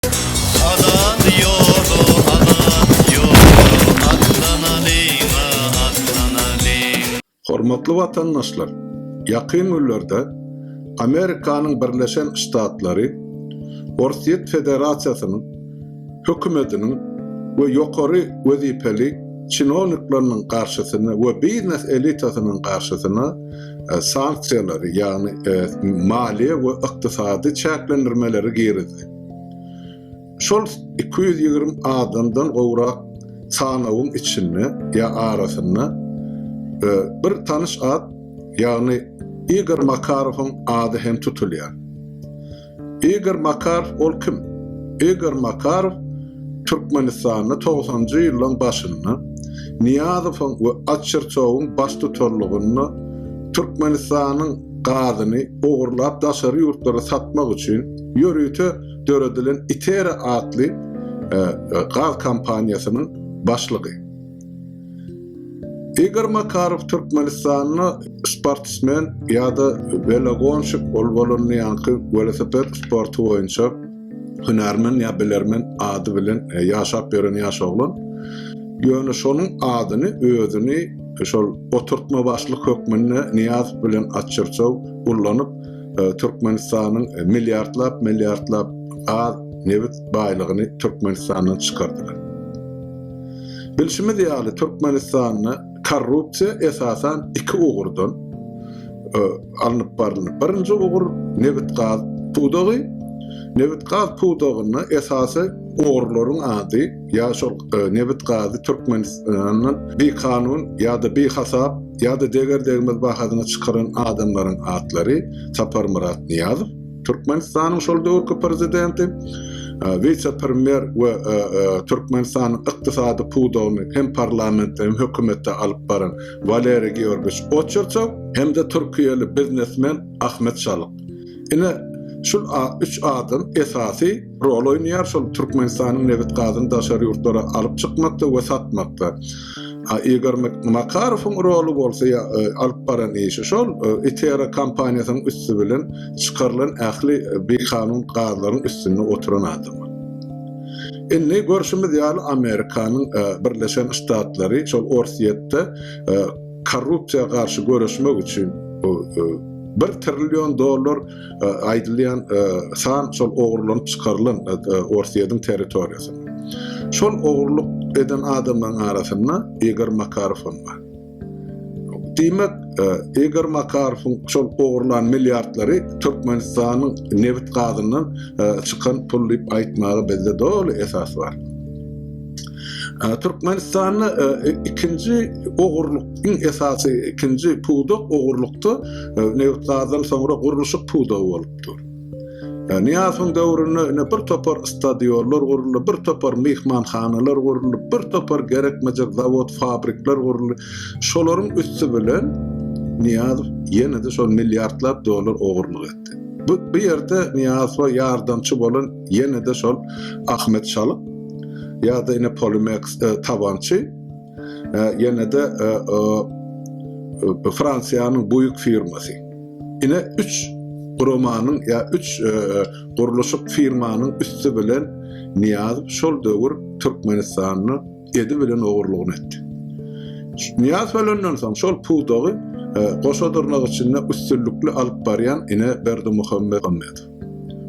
Azat ýoly, azat ýoly, atlanalyň-a, atlanalyň! Hormatly watandaşlar! Ýakyn günlerde Amerikanyň Birleşen Ştatlary Orsýet Federasiýasynyň Hökümetiniň we ýokary wezipeli çinownikleriniň garşysyna we biznes elitasynyň garşysyna sanksiýalary, ýagny maliýe we ykdysady çäklendirmeleri girizdi. Şol iki ýüz ýigrimi adamdan gowrak sanawyň içinde ýa arasynda bir tanyş at, ýagny Igor Makarowyň ady hem tutulýar. Igor Makarow ol kim? Igor Makarow Türkmenistanda togsanjy ýyllaryň başynda Nyýazowyň we Açyrçowyň baştutanlygynda Türkmenistanyň gazyny ogurlap daşary ýurtlara satmak üçin Ýörite döredilen Itera atly gaz kompaniýasynyň başlygy. Igor Makarow Türkmenistanda sportsmen ýa-da welogonşik, ol bolanda ýaňky welosiped sporty boýunça hünärmen ýa bilermen ady bilen ýaşap ýören ýaş oglan. Ýöne şonuň adyny özüni şol oturtmabaşlyk hökmünde Nyýazow bilen açyrjaw ullanyp, e, Türkmenistanyň e, milliardlap milliardlap gaz nebit baýlygyny Türkmenistandan çykardylar. Bilşimiz ýaly Türkmenistanda korrupsiýa esasan iki ugurdan e, alnyp barylýar. Birinji ugur nebit gaz pudagy. Nebit gaz pudagynda esasy ogurlaryň ady ýa şol nebit-gazy Türkmenistandan bikanun ýa-da bihasap ýa-da deger-degmez bahasyna çykaran adamlaryň atlary, Saparmyrat Nyýazow, Türkmenistanyň şol döwürki prezidenti, wise-premýer we Türkmenistanyň ykdysady pudagyny hem parlamentde, hem hökümetde alyp baran Waleriý Georgiýewiç Oçertow hem-de türkiýeli biznesmen Ahmet Şalyk. Ine, şul üç adam esasy rol oýnaýar, şol Türkmenistanyň nebit-gazyny daşary ýurtlara alyp çykmakda we satmakda. A Igor Makarowyň roly bolsa ýa alyp baran işi şol Itera kompaniýasynyň üsti bilen çykarylan ähli bikanun gazlaryň üstünde oturan adam. Indi görşümiz ýaly Amerikanyň Birleşen Ştatlary şol Orsýetde korrupsiýa garşy göreşmek üçin bir trillion dollar aýdylýan san şol ogurlanyp çykarylan Orsýetiň territoriýasynda. Şol ogurlyk eden adamlaryň arasynda Igor Makarow hem bar. Diýmek, Igor Makarowyň şol ogurlan milliardlary Türkmenistanyň nebit gazyndan çykan pul diýip aýtmaga bizde doly esas bar. Türkmenistanda e, e, ikinji ogurluk, iň esasy ikinji pudak ogurlukda e, neft gazdan soňra gurluşyk pudagy bolupdyr. Niýasyň döwründe ine bir topar stadionlar guruldy, bir topar myhmanhanalar guruldy, bir topar gerekmejek zawod, fabrikler guruldy. Şolaryň üsti bilen Niýaz ýene-de şol milliardlap dollar ogurlyk etdi. Bu bu ýerde Niýazowa ýardamçy bolan Ýene-de şol Ahmet Şalyk ýa-da ine Polimeks Tabançy ýene-de Fransiýanyň Buýk firmasy. Ine üç guramanyň ýa üç gurluşyk firmanyň üsti bilen Niýazow şol döwür Türkmenistanda edi bilen ogurlygyny etdi. Niýaz ölenden soň şol pudagy e, goşa dyrnak içinde üstünlikli alyp barýan ine Berdimuhammet Muhammedow.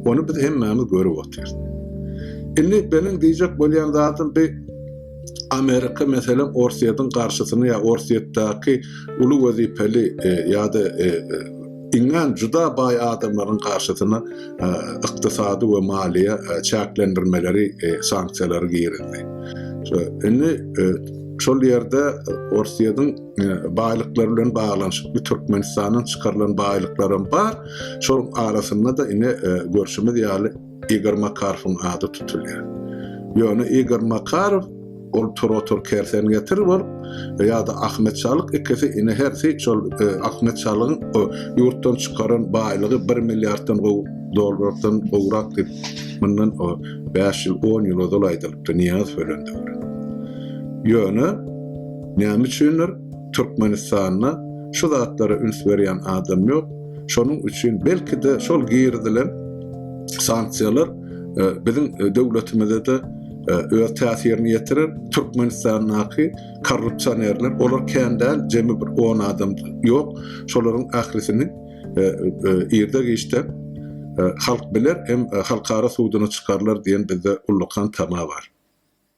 Ony biz hemmämiz görüp otyrys. Indi benim diýjek bolýan zatym bi Amerika meselem Orsýetiň garşysyny ýa Orsýetdäki uly wezipeli e, ýa-da e, e, iňňän juda baý adamlaryň garşysyna e, ykdysady we maliýe e, çäklendirmeleri, e, sanksiýalary girizdi. Şo, indi e, şol ýerde e, Orsýetiň baýlyklar bilen baglanyşykly Türkmenistandan çykarylan baýlyklaram bar. Şol arasynda da ine e, görşümiz ýaly Igor Makarowyň ady tutulýar. Ýöne Igor Makarow ol Turotur Kersen getir bolup ýa-da Ahmet Çalyk ikisi ine hersi şol e, Ahmet Çalygyň ýurtdan çykaran baýlygy 1 milliarddan gowy dollardan gowrak diýip mundan 5 ýyl 10 ýyl ozal aýdylypdy Niýaz Felendöwre. Ýöne Näme üçindir, Türkmenistanda şu zatlara üns berýän adam ýok. Şonuň üçin belki-de şol girizilen sanksiýalar e, biziň e, döwletimize-de e, öz täsirini ýetirer. Türkmenistandaky korrupsionerler, olar kän däl, jemi bir 10 adam ýok. Şolaryň ählisini irde geçde halk biler hem halkara suduna çykarlar diýen bizde ullakan tama bar.